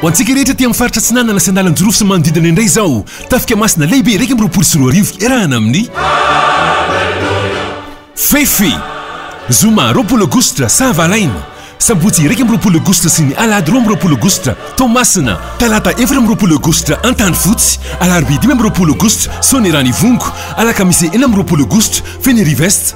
Ho antsika rehetra aty amin'ny faritra Atsinanana sy andalan-jirofo sy manodidina indray izao, Tafika Masina Lehibe iraika amby roapolo sy roa arivo iarahana amin'ny Fefy, Zoma roapolo Aogositra, Sahavalaina, Sabotsy iraika amby roapolo Aogositra sy ny Alahady roa amby roapolo Aogositra, Toamasina, Talata efatra amby roapolo Aogositra, Antanifotsy, Alarobia dimy amby roapolo Aogositra, Soanierana Ivongo, Alakamisy enina amby roapolo Aogositra, Fenerive Est.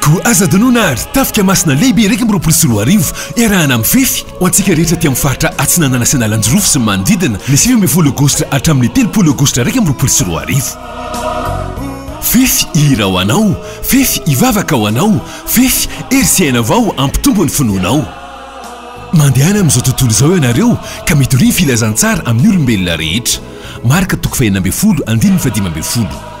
Koa aza adinoina àry, tafika masina lehibe iraika amby roapolo sy roa arivo, iarahana mifefy, ho antsika rehetra aty amin'ny faritra Atsinanana sy Analanjirofo sy ny manodidina, ny sivy ambin'ny folo Aogositra hatramin'ny telopolo Aogositra iraika amby roapolo sy roa arivo. Fefy hihira ho Anao, fefy hivavaka ho Anao, fefy hery sy aina vao hampitombo ny finoanao. Mandehana amin'izao tontolo izao ianareo ka mitoria ny filazantsara amin'ny olombelona rehetra. Marka toko fahenina ambin'ny folo, andininy fahadimy ambin'ny folo.